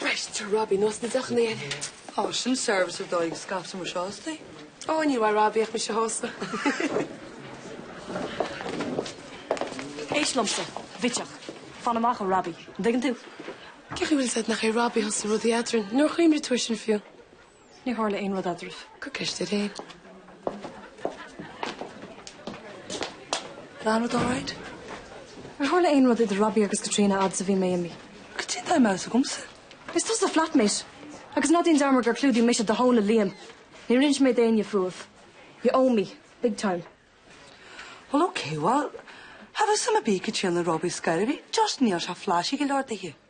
Breis de Robbie ná sna deochanna air. Ó, sin service ar dóigh go scaipfeadh mise astu. Ó, níor mhaith Robbie ach mise astu. Éist liomsa, a bhitseach. Fan amach ó Robbie. An dtuigeann tú? Cén chaoi a bhfuil a fhios agat nach é Robbie a thosaigh rud eadrainn? Níor chuimhnigh tú air sin fiú. Níor tharla aon rud eadraibh. Cuir ceist air féin. Tá an rud alright? Níor tharla aon rud idir Robbie agus Caitríona fhad is a bhí mé imithe. Goidé an dóigh a mbeadh a fhios agamsa. Is tusa a flatmate. Agus ná déan dearmad gur chlúdaigh mise do thóin le Liam. Níor inis mé d'éinne fúibh. You owe me. Big time. Well ok, well, have a summer bee Caitríona Robbie is gairid a bhí, just níl sé flashy go leor daoithi.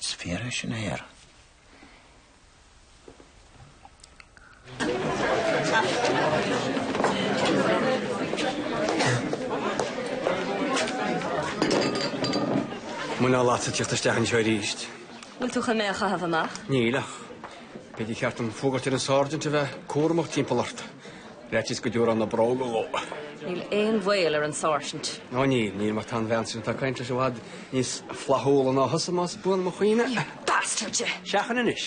Is fíor é sin a Fhear. Muineál agatsa tíocht isteach anseo arís. Bhfuil tú chun mé a chaitheamh amach? Níl ach b'fhéidir gur cheart dom fógairt ar an sáirsint a bheith cúramach timpeall ort. Ar fhaitíos go dtiúrfá na bróga dhó. Níl aon bhaol ar an sáirsint. Ó níl, níl mar tá an bhean sin atá ag caint leis i bhfad níos flaithiúla ná thusa más buan mo chuimhne. You bastard you! Seachain anois,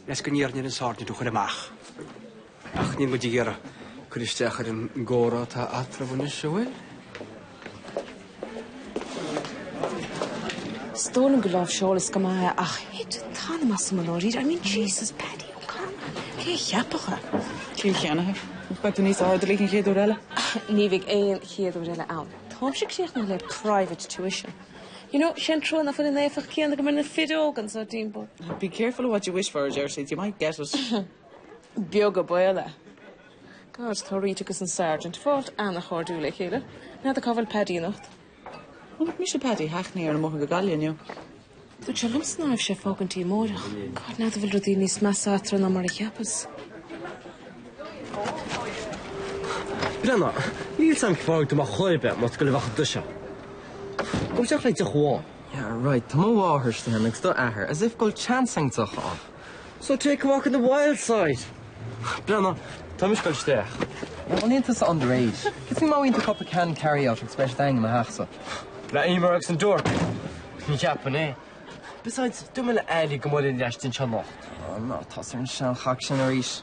faitíos go n-iarrfainn ar an sáirsint thú a chur amach. Ach níl muid ag iarraidh cur isteach ar an gcomhrá atá eatarthu anois, an bhfuil? Is dóigh liom gur láimhseáileas go maith é ach thit an t-anam asam i ndáiríre. I mean, Jesus, Paddy O'Connor! Cé a cheapfadh é? Ciall cheannaithe. Beidh tú níos airdeallaí an chéad uair eile. Ní bheidh aon chéad uair eile ann. Táimse críochnaithe le private tuition. You know, sé an trua nach bhfuil an éifeacht chéanna agam ar na fir óga anseo timpeall. Be careful of what you wish for, a deir siad, you might get it. Beag an baol é. God, Tá Rita agus an Sergeant ag fáilt an-chairdiúil le chéile. N'fheadar cá bhfuil Paddy anocht. Bhuel, chonaic mise Paddy i hackney ar an mbóthar go Gaillimh inniu. Dúirt sé liomsa ná raibh sé ag fágaint go dtí amárach. God, n'fheadar an bhfuil rudaí níos measa eatarthu ná mar a cheapas. Brenna, Níl san cráig do mo chléibe más go libheach duit é. Gabh isteach le haghaidh deoch amháin. Yeah, right, tá mo mháthair istigh ann agus d'athair, as if go bhfuil chance againn ar dheoch ann. So take a walk on the wild side. Brenna, tá mise ag goil isteach. Bhuel, níl tusa underage. Gets me maith into cúpla can carry out agus beidh siad againn i mo theachsa. Le Emer agus an duart? Ní cheapainn é. Besides, dúirt mé le Ailí go mbuailfinn leis insan sean lochta. Oh no, tá sé ar an sean chac sin arís.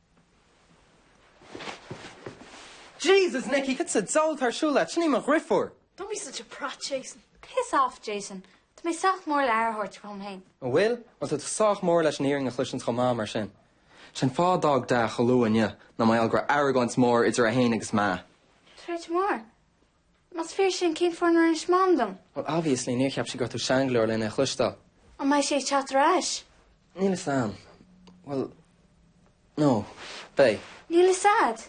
Jesus Nicky! Cad sa diabhal atá ar siúl leat? Sin í mo dhrifiúr! Don't be such a prat, Jason. Piss off, Jason. Tá mé sách mór le aire a thabhairt dhom féin. An bhfuil? Bhuel, tá tú sách mór leis an fhírinne a chloisint chomh maith, mar sin. Sé an fáth d'fhág Da chomh luath inniu ná mar gheall go raibh argóint mór idir é féin agus Ma. Troid mór. Más fíor sin, cén fáth nár inis Mam dom? Well, obviously, níor cheap sí go raibh tú sean go leor lena a chloisteáil. An mbeidh sé ag teacht ar ais? Níl fhios a'm. Well, no, beidh. Níl fhios a'd.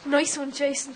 Nice one, Jason.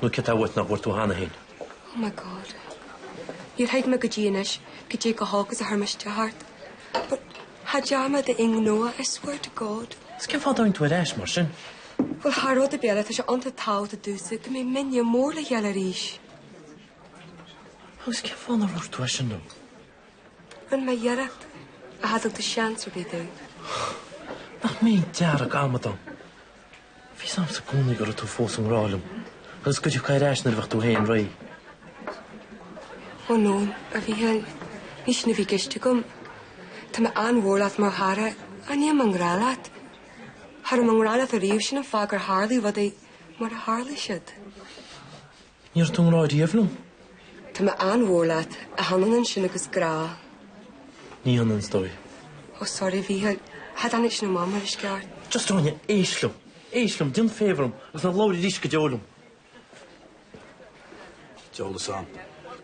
Nó céard atá uait nach bhfuair tú cheana féin? Oh my God. Níor thuig mé go dtí anois goidé chomh holc is a thoirmiscte thart. But cha dtearn mé d'aon ghnó é, I swear to God. Is cén fáth a dtáinig tú ar ais mar sin? Bhuel, thar rud ar bith eile, tá sé iontach tábhachtach domhsa go mbeidh muidne mór le chéile arís. Agus cén fáth nár dhúirt tú é sin liom? Rinne mé iarracht ach cha dtug tú seans ar bith domh. Nach mé an deargamadán. Bhí fhios a'msa i gcónaí go raibh tú fós i ngrá liom agus go dtiocfá ar ais nuair a bheadh tú féin réidh. Oh no, a Mhícheáil. Ní sin a bhí i gceist agam. Tá mé an-mhór leat mar chara. Ach níl mé i ngrá leat? Cha raibh mé i ngrá leat ariamh, sin an fáth gur tharlaigh rudaí mar a tharlaigh siad. Ní raibh tú i ngrá riamh liom. Tá mé an-mhór leat. Ach chan ionann sin agus grá. Ní hionann is dóigh. Oh sorry Mhícheáil. Cha dtáinig sin amach mar is ceart. Just go raibh mé. Éist liom. Éist liom. Déan favour dom agus ná labhair arís go deo liom. Diabhal fhios a'm.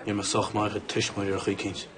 Ní raibh mé sách maith ag a tuismitheoirí ar chaoi eicínt.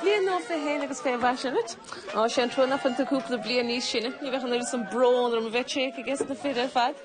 Bliain nua fé shéan agus fé mhaise dhuit. Ó, sé an trua nach bhfuil tú cúpla bliain níos sine. Ní bheadh an oiread sin brón orm a bheith téaca i gceist na fir ar fad.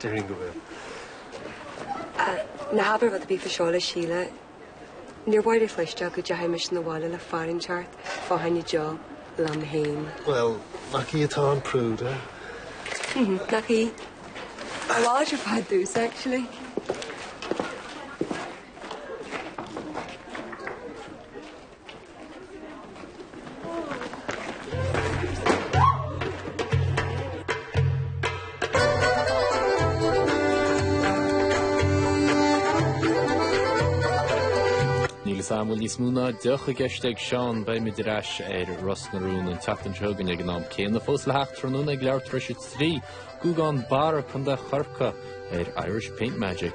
Déarfainn go bhfuil. Ná habair rud ar bith fá seo le Síle, níor mhaith léi a chloisteáil go dteachaidh mise na bhaile le fear inteacht fá choinne deoch liom fhéin. Bhuel, nach í atá an prude? Hm, nach í? Tá láidir fad dtús, actually. Níl fhios a'm an bhfuil níos mó ná deoch i gceist ag Seán. Beimid ar ais ar Ros na Rún an tseachtain seo chugainn ag an am céanna fós le theacht tráthnóna ag leathuair tar éis a trí, Guagán Barra, Co. Chorcaí, ar Irish Paint Magic.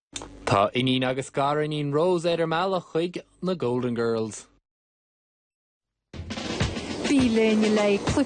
Tá iníon agus gariníon Rose ar a mbealach chuig na Golden Girls. Bí linn le.